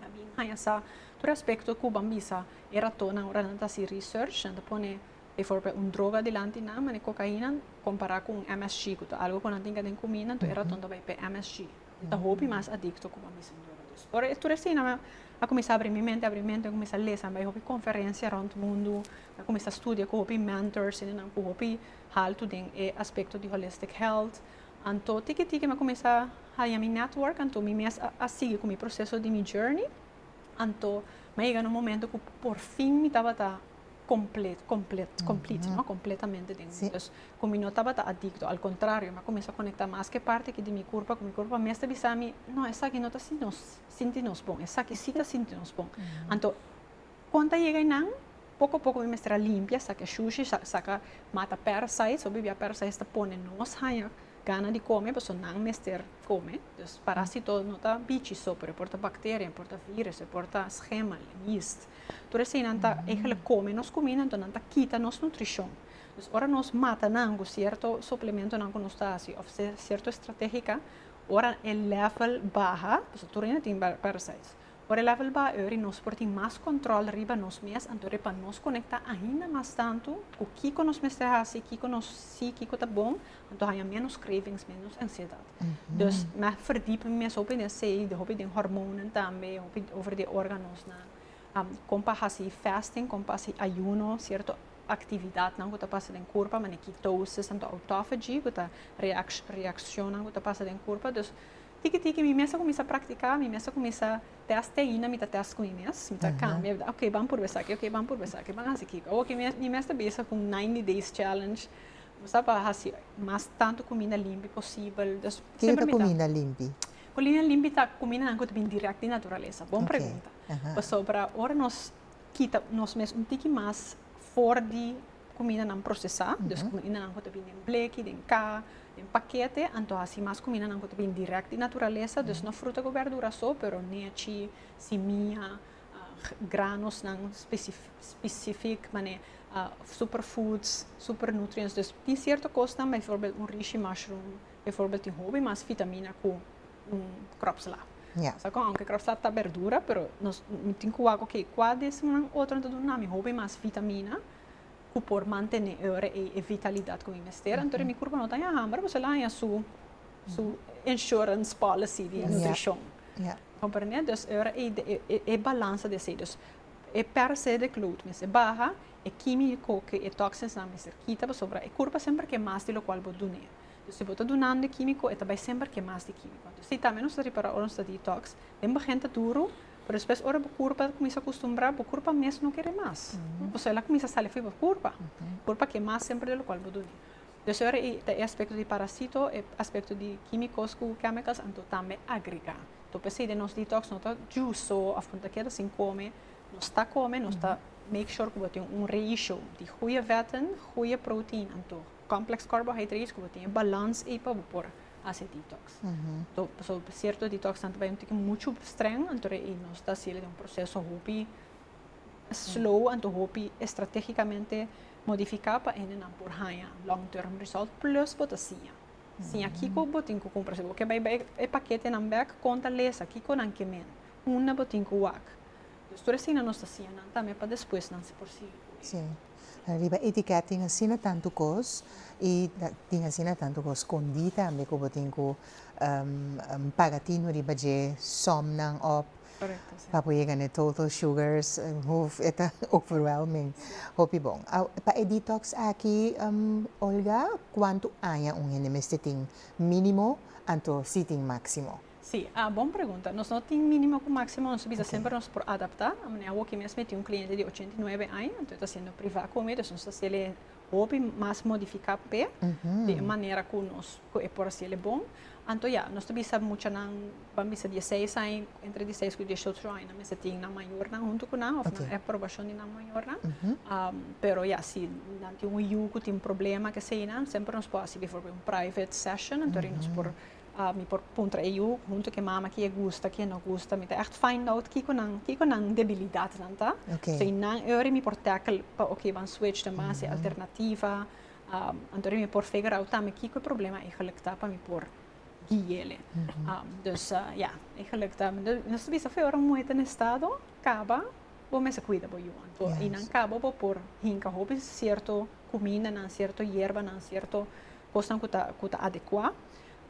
A bin haña sa tur aspekto ku ban bisa e ratonnan ora nan ta hasi research, nan ta pone biforbe un droga dilanti nan, manera kokaina, kompará ku un msg, ku ta algu ku nan tin ka den kuminda, anto e raton ta bai p'e msg. E ta hopi mas adikto ku ban bisa un droga. Dus, ora tur asina mi a kuminsá abrí mi mente, abrí mi mente, mi a kuminsá lesa, mi bai hopi konferensia rònt mundu, mi a kuminsá studia ku hopi mentors, hende nan ku hopi haltu den e aspekto di holistic health. Anto tiki tiki mi a cuminsa haña mi network, anto mi mes a sigui cu mi proceso di mi journey, anto mi a yega na un momento cu por fin mi tabata complet, complet, complete, no? Completamente den mi. Dus cu mi no tabata adicto, al contrario, mi a cuminsa conecta mas cu e parti aki di mi curpa, cu mi curpa mes ta bisa mi, no, esaki no ta sinti nos bon, esaki si ta sinti nos bon. Anto. Con ta yega eynan? Poco poco mi mester a limpia, saca e shushi, saca, mata parasites, hopi bia parasites ta pone nos hanja gana di come, pasobra nan mester come, dus parasito no ta bichi so, pero e por ta bacteria, e por ta virus, e por ta schemel, yeast, tur esey eynan ta eigenlijk come nos cuminda, enton nan ta kita nos nutricion, dus ora nos mata nan cu cierto suplementonan cu nos ta haci of cierto estrategica, ora e level baha, pasobra tur hende tin parasites. Ora e level baha eur y nos por tin mas control riba nos mes, anto e pa nos conecta ainda mas tanto cu kico nos mester haci, kico nos si, kico ta bon, anto haya menos cravings, menos ansiedad. Dus meh verdiep mi mes hopi den sey, den hopi den hormonen tambe, hopi over de organosnan, am, con pa haci fasting, con pa haci ayuno, cierto actividadnan cu ta pasa den curpa, mane ketosis, anto autophagy, cu ta reac-reaccionnan cu ta pasa den curpa, dus. Tiki tiki mi mes a cuminsa practica, mi mes a cuminsa test te Aina mi ta test cu mi mes, mi ta cambia, mi ta ok ban purba esaki, ok ban purba esaki, ban hasi kico, awo ki mi mes ta bezig cu un ninety days challenge, mi sa pa hasi mas tanto cuminda limpi posibel, dus semper mi ta. Kico ta cuminda limpi? Cuminda limpi ta cumindanan cu ta bini direct di naturalesa, bon pregunta, pasobra ora nos kita nos mes un tiki mas for di kumindanan prosesá, dus kumindanan ku ta bin den bleki, den ka, den pakete, anto hasi mas kumindanan ku ta bin dirèkt di naturalesa, dus no fruta ku bèrdura so, pero nechi, simia, granosnan spesifik, mane super foods, super nutrients, dus tin sierto kosnan, bifòrbèl un rishi mushroom tin hopi mas fitamina ku un crop salad. Yeah. Sa con aunque crop salad ta berdura, pero nos mi tin cu wak ok cua di esnan nan otro ta duna nami hopi mas vitamina cu por mantene ora ei e vitalidad cu mi mester, anto mi curpa no ta haña hamber pasobra el a haña su su insurance policy di nutricion. Yeah. Comprende? Dus ora ei e balansa di esei. Dus e perse di clout mester baha, e quimico cu e toxins nan mester kita pasobra e curpa semper ke mas di locual bo dun'e. Pues si bo ta dunando e quimico e ta bay semper ke mas di quimico. Anto si tambe nos ta repara ora nos ta detox, den begin ta duro, pero despues ora bo curpa ta cuminsa acustumbra, bo curpa mes no kere mas. Osea el a cuminsa sali fo'i bo curpa. Bo curpa ke mas semper de lo cual bo duni. Entonces ora ei ta e aspecto di parasito, e aspecto di quimicos cu chemicals anto tambe agrega. Anto p'esei den nos detox no ta justo of bo ta keda sin come, nos ta come, nos ta make sure cu bo tin un ratio di goeie vetten, goeie protein anto Complex Carbohydrates ku bo tin e balans ei pa bo por hasi detox. Pasobra pa sierto detox nan ta bai un tiki muchu strèng anto e nos ta hasiel den un proseso hopi slow anto hopi estrategikamente modifiká pa hende nan por haña long term result plus bo ta siña. Siña kiko bo tin ku kumpra. Si bo ke bai bai e paketenan bèk kon ta lesa kiko nan ke men, unda bo tin ku wak. Tur asina nos ta siña nan tambe pa despues nan por sigui. Riba etiquet tin asina tantu cos y tin asina tantu cos scondi tambe cu bo tin cu paga tino riba dje somnan op pa bo yega n'e total sugars hoeveel e ta overwhelming hopi bon. Pa e detox aki Olga cuantu aña un hende mester tin minimo anto si tin maximo? Sí, a bon pregunta. Nos no tin mínimo ku máksimo, nos ta bisa semper nos por adaptá. Manera awoki mes mi tin un kliente di ochenta i nuebe aña, anto e ta hasiendo privá ku mi, dus nos ta hasiel'e hopi mas modifiká p'e, di e manera ku nos, ku e por hasiel e bon. Anto ya, nos ta bisa muchanan, ban bisa di e seis aña, entre di seis ku dieciocho aña nan mester tin nan mayornan huntu ku nan, òf nan aprobashon di nan mayornan. Pero ya, si nan tin un yu ku tin problema, kesheinan, semper nos por hasi, biforbènt, un private session, anto arí nos por Mi por puntra e yu huntu ku e mama ke gusta ke no gusta. Mi ta ègt find out kiko nan kiko nan debilidatnan ta. So i nan e ora mi por tackle pa oké ban switch ta mas e alternativa. Anto mi por figure out tambe kiko e problema eigelik ta pa mi por guiele. Dus ya eigelik ta nos ta bisa fu e ora muhé ta na estado kaba bo mester kuida bo yu. Anto einan kaba bo por hinka hopi sierto kumindanan sierto yerbanan sierto. Kosnan ku ta ku ta adekuá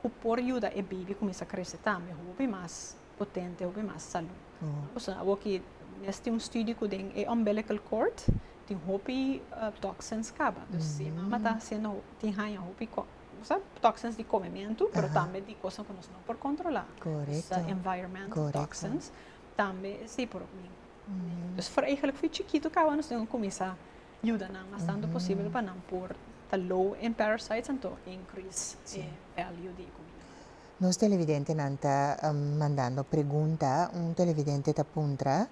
ku por yuda e beibi kuminsá krese tambe hopi mas potente, hopi mas salú. Nos a wak ki mes tin un studio ku den e umbilical cord tin hopi toxins kaba. Dus si e mama ta hasiendo tin haña hopi toxins di komementu pero tambe di kosnan ku nos no por kontrolá. Environmental toxins tambe si por opnin. Dus for eigelijk fu chikitu kaba nos tin kuminsá. Yuda nan mas tantu posibel pa nan por ta low en parasites anto increase e value di e comida. Nos televidentenan ta mandando pregunta. Un televidente ta puntra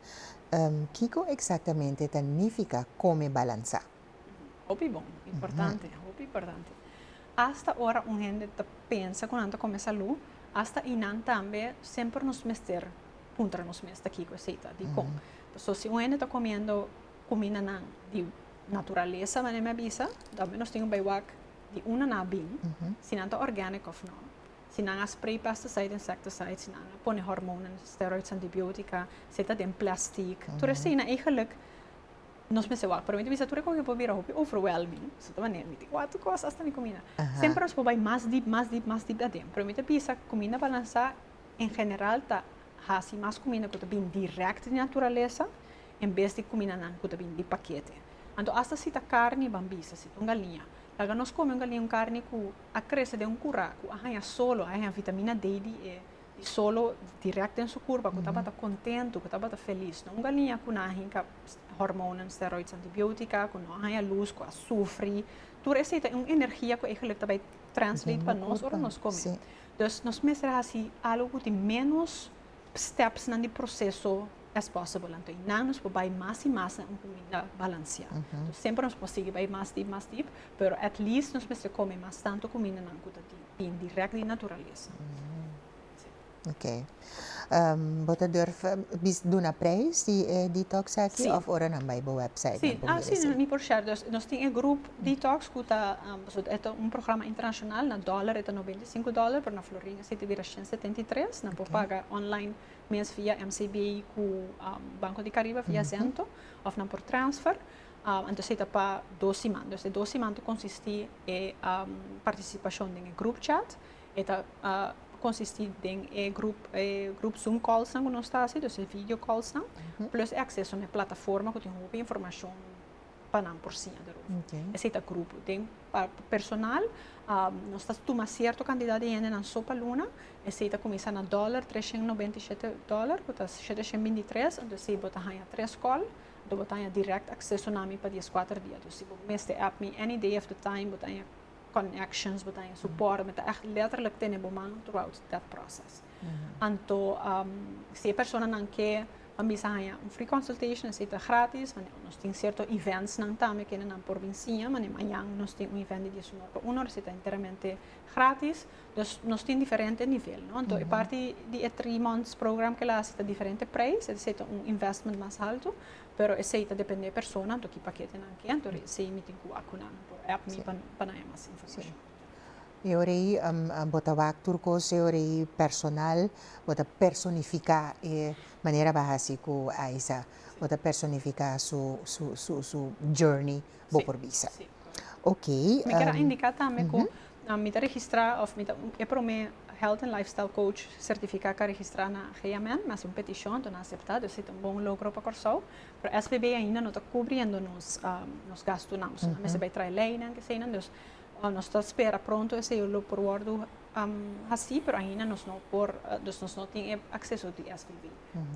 kico exactamente ta nifica come balansa? Hopi bon, importante, hopi importante. Hasta ora un hende ta pensa cu nan ta come salu, hasta y nan tambe semper nos mester puntra nos mes ta kico esey ta, dicon. Pasobra si un hende ta comiendo kumindanan di naturalesa, manera mi a bisa, ta hopi nos tin ku bai wak di una na bin, si nan ta organic òf nò, si nan a spray pesticide, insecticide, si nan a pone hormonan, steroids, antibiotica, si e ta den plastic, tur esei nan eigenlik nos mester wak. Pero mi ta bisa tur e kos ei por bira hopi overwhelming, pasobra ta manera mi tin wak tur kos, asta mi kuminda. Semper nos por bai mas dip, mas dip, mas dip aden. Pero mi ta bisa kuminda balansá. en general ta hasi mas cuminda cu ta bini direct di naturalesa en bes di cumindanan cu ta bini di pakete. Anto hasta si ta carni ban bisa, si ta un galiña, laga nos come un galiña, un carni cu a crece den un cura cu a haña solo, a haña vitamina D di e di solo direct den su curpa cu tabata contento, cu tabata feliz, no un galiña cu na hinca hormonen, steroids, antibiotica, cu no a haña luz, cu a sufri, tur esey ta un energia cu eygelik ta bay translate pa nos ora nos come. Dus nos mester hasi algo cu tin menos stepsnan di proceso as possible. Anto eynan nos por bay mas y mas na un comida balancia. Anto semper nos por sigui bay mas diep, mas diep, pero at least nos mester come mas tanto comindanan cu ta di, bin direct di naturalesa. Ok. Bo ta durf bis duna prijs di e detox aki? Sí. Of ora nan bai bo website nan por mira esei? Sí, ni por share. Dus nos tin e grup detox ku ta pasobra e ta un programa internashonal. Na dòler e ta noventa i sinku dòler, pero na Florin esei ta bira shen setenta i tres. Nan por paga online mes via MCB ku Banko di Kariba via Zento òf nan por transfer. Anto esei ta pa dos siman. Dus e dos siman ta konsistí e partisipashon den e grup chat E ta konsisti den e grup zoom kòlsnan ku nos ta hasi, dus e video kòlsnan, plus e akseso na e plataforma ku tin hopi informashon pa nan por siña derover. Esei ta grupo. Den pa personal, nos ta tuma sierto kantidat di hende nan so pa luna, esei ta kuminsá na dòler, tres shèn nobenta i shete dòler, ku ta shete shèn binti tres, anto esei bo ta haña tres kòl, anto bo ta haña dirèkt akseso na mi pa dies kuater dia. Si bo mester èp mi any day of the time, bo ta haña connections bo ta haña, su por, mi ta echt letterlijk tene bo man throughout that process. Anto um, si e personanan ke pa mi sa haña un free consultation, esei ta gratis, mane nos tin cierto events nan tambe kende nan por bin siña, mane mañan nos tin un event di dies honor pa uno, esei ta enteramente gratis. Dus nos tin diferente nivel, no? Anto e parti di e three months program ke la hasi ta diferente prijs, esei ta un investment mas haltu, Pero esey ta depende e persona anto ki paketenan ke anto ri esey mi tin ku wak ku nan por app mi pa pa nan e mas informashon. E ora ei bo ta wak tur kos e ora ei personal bo ta personifiká e manera bo a hasi ku Aisa bo ta personifiká su su su su journey bo por bisa. Oké. Mi ker a indiká tambe ku mi ta registrá òf mi ta e promé Health and Lifestyle Coach sertifiká ku a registrá na GMM. Mi hasi un petishon, dor nan aseptá. Dus e ta un bon logro pa Kòrsou. Pero SBB ainda no ta kubriendo nos nos gastunan. Pasobra nan mester bai traha e leinan, keseinan. Dus nos ta spera pronto esei lo por wòrdu hasí, pero ainda nos no por, dus nos no tin e akseso di SBB.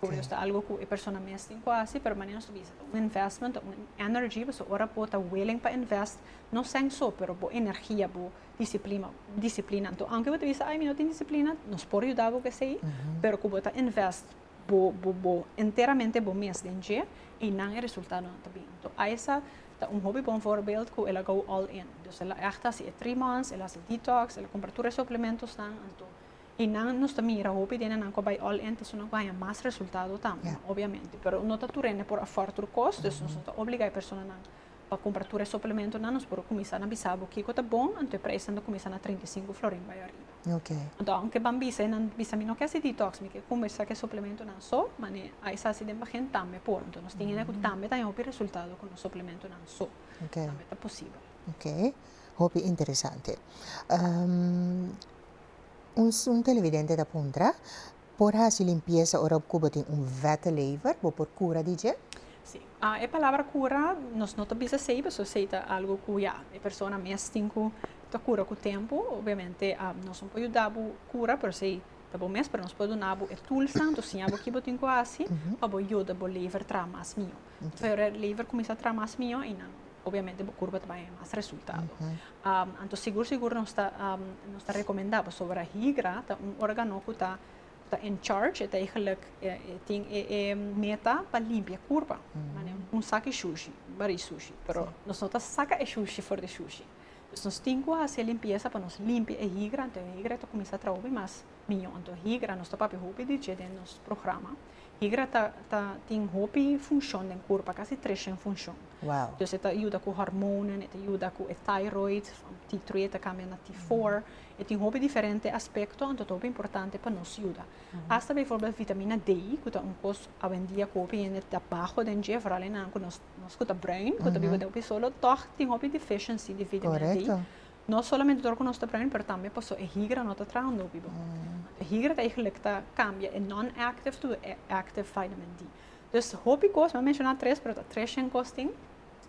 Por nos ta algo cu e persona mes tin cu haci, pero manera nos ta bisa ta un investment, ta un energy, pasobra ora bo ta willing pa invest, no seng so, pero bo energia, bo disciplima, disciplina. Anto, aunke bo ta bisa ay mi no tin disciplina, nos por yuda bo cu esey, pero cu bo ta invest bo, bo, bo, enteramente bo mes den dje, eynan e resultadonan ta bini. Anto, Isa ta un hopi bon voorbeeld cu el a go all in. Dus el a echt haci e three months, el a haci detox, el a compra tur e suplementosnan, anto, Y nan nos ta mira hopi den nan cu a bay all-in ta suma guaña mas resultado tambe, obviamente. Pero no ta tur hende por afford tur cos, dus nos no ta obliga e personanan pa cumpra tur e suplementonan. Nos por cuminsa na bisa bo kico ta bon, anto e prijsnan ta cuminsa na trinta i sinku florin bay ariba. Anto aunke ban bisa y nan bisa mi no ke haci detox, mi ke cuminsa cu e suplementonan so, mane a esa haci den bagen tambe por. Anto nos tin hende cu tambe ta haña hopi resultado cu nos suplementonan so. Tambe ta posibel. Ok, hopi interesante. Un sun televidente ta puntra, Por hasi limpiesa ora ku bo tin un vette lever? Bo por kura di dje? Sí. E palabra kura nos no ta bisa esei paso esei ta algu ku ya e persona mes tin ku ta kura ku tempu. Obviamente nos no por yuda bo kura pero esei ta bo mes pero nos por duna bo e tulsnan, nos siña bo ki bo tin ku hasi pa bo yuda bo lever traha mas mihó. Bo ret liever cuminsa traha mas mijo y nan obviamente bo curva ta bay haya mas resultado. Anto sigur sigur nos ta nos ta recomenda bo soba higra ta un organo cu ta in charge e ta eigenlijk e tin e meta pa limpia e curva mane un sak di shushi bari shushi pero nos no ta saca e shushi for di shushi nos tin cu haci e limpieza pa nos limpia e higra anto e higra ta cuminsa traha hopi mas. Miño anto higra nos ta papia hopi di dje den nos programa higra ta ta tin hopi funshon den kurpa kasi treshen funshon wow entonces e ta yuda ku hormonen e ta yuda ku e thyroid from T three e ta kambia na T four e tin hopi diferente aspekto anto ta hopi importante pa nos yuda hasta bivorbel vitamina D ku ta un kos awendia ku hopi hende ta baho den dje vooral e nan ku nos nos ku ta bruin ku ta biba den hopi solo tog tin hopi deficiency di vitamina D korèkto No solamente tur cu nos ta prende, pero tambe paso e higra no ta traha un dopi bon. E higra ta eigenlijk ta cambia e non-active to e active vitamin D. Dus hopi cos, mi a menciona tres, pero ta tres shen cos tin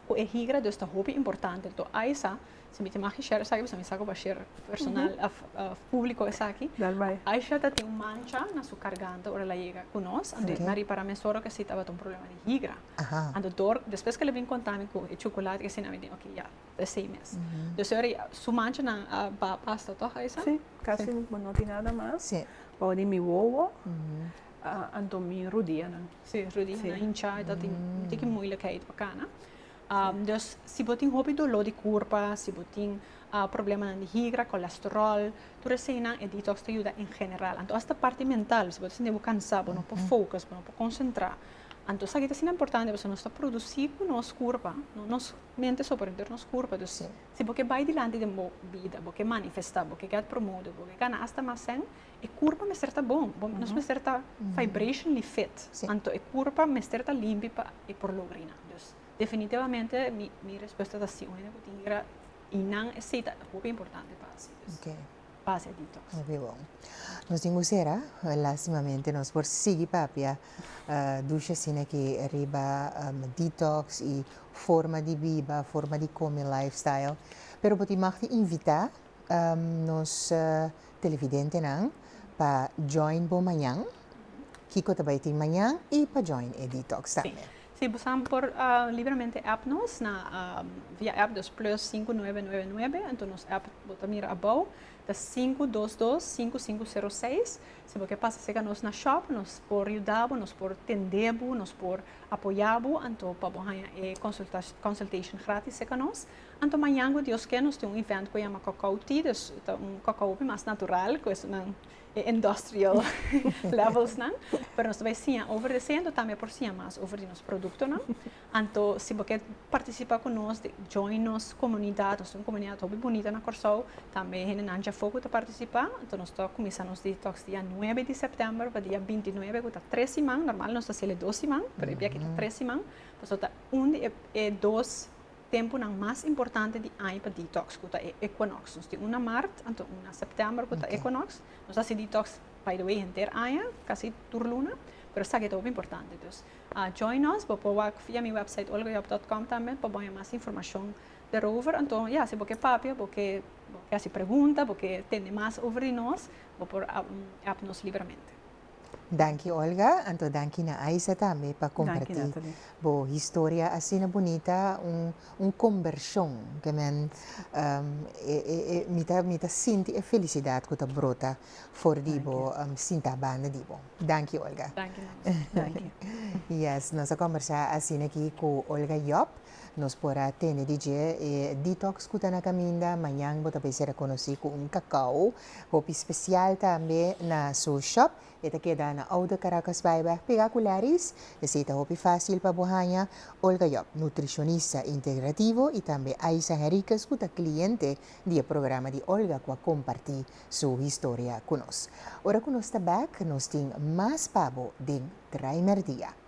cu e higra, dus ta hopi importante. Anto a esa, si mi tin maki share esaki, pasobra mi sa cu bo a share personal, of publico esaki. Dal bay. Aisha ta tin un mancha na su carganta ora el a yega cu nos, anto el a ripara mes ora cu e si tabata un problema di higra. Anto tur, despues cu el a bin conta mi cu e chocolate cu asina, mi di, ok, ya. Esei mes. Dus ora ya su manchanan a ba pasta tòg a esa? Sí, kasi bo no tin nada mas. Sí. Bou di mi wowo, anto mi rodianan. Sí, rodianan hinchá i ta tin un tiki moeilekheid pa kana. Dus si bo tin hopi doló di kurpa, si bo tin problemanan di higra, kolesteròl, tur eseinan e detox ta yuda en general. Anto asta parti mental, si bo ta sinti bo kansá, bo no por focus, bo no por konsentrá, anto esaki ta asina importante pasobra nos ta produsí ku nos kurpa, nos. Mente sober dor nos kurpa, dus si bo ke bai dilanti den bo bida, bo ke manifestá, bo ke gèt promodo, bo ke gana asta mas sèn, e kurpa mester ta bon, bo nos mester ta vibrationally fit, anto e kurpa mester ta limpi pa e por logra i nan. Dus definitivamente mi respuesta ta sí, un hende ku tin hira i nan e sey ta hopi importante pa hasi. Pase detox. Hopi bon. Nos tin cu cera. Lastimamente nos por sigui papia dusha asinaki riba detox y forma di biba, forma di come lifestyle. Pero bo tin mag di invita nos televidentenan pa join bo mañan. kiko ta bai tin mañan y pa join e detox tambe. Si bo sa por libramente app nos na via app dus plus sinku nuebe nuebe nuebe enton nos app bo ta mira abou ta sinku dos dos sinku sinku sero seis si bo ke pasa seka nos na shop nos por yuda bo nos por tende bo nos por apoya bo anto pa bo haña e consulta consultation gratis seka nos anto mañan cu Dios ke nos tin un event cu yama cocoa tea dus ta un cocoa hopi mas natural cu esnan e industrial levelsnan, pero nos ta bai siña over di esei, anto tambe por siña mas over di nos produktonan. Anto si bo ke partisipa ku nos, join nos komunidat, nos tin un komunidat hopi bunita na Kòrsou, tambe hendenan dja afó ku ta partisipa, anto nos ta kuminsá nos detox dia nuebe di sèptèmber pa dia binti nuebe ku ta tres siman, nòrmal nos ta hasiel e dos siman, pero e biaha aki ta tres siman, pasobra ta un di e dos. tempunan mas importante di aña pa detox cu ta e equinox. Nos tin un na mart, anto un na september cu ta okay. equinox. Nos haci detox, by the way, henter aña, casi tur luna, pero esaki ta hopi importante. Dus, uh, join nos, bo por wak via mi website olgajob.com también pa boña mas informacion daarover. Anto, ja, si bo ke papia, bo ke, bo ke haci pregunta, bo ke tende mas over di nos, bo por app nos liberamente. Danki Olga, anto danki na Aisa tambe pa comparti bo historia asina bunita, un un conversion ke men mi ta mi ta sinti e felicidad ku ta brota for di bo sinta banda di bo. Danki Olga. Yes nos a combersa asina aki ku Olga Job, nos por a tende di dje e detox ku ta na kaminda, mañan bo ta bay ser a conoci ku un cacao Hopi special tambe na su shop. E ta keda na Oude Caracasbyweg pega cu Larry's. Esey ta hopi facil pa bo haña. Olga Job, nutricionista integrativo y tambe Aisa Henriquez cu ta cliente di e programa di Olga cu a comparti su historia cu nos. Ora cu nos ta back nos tin mas pa bo den Draai Merdia.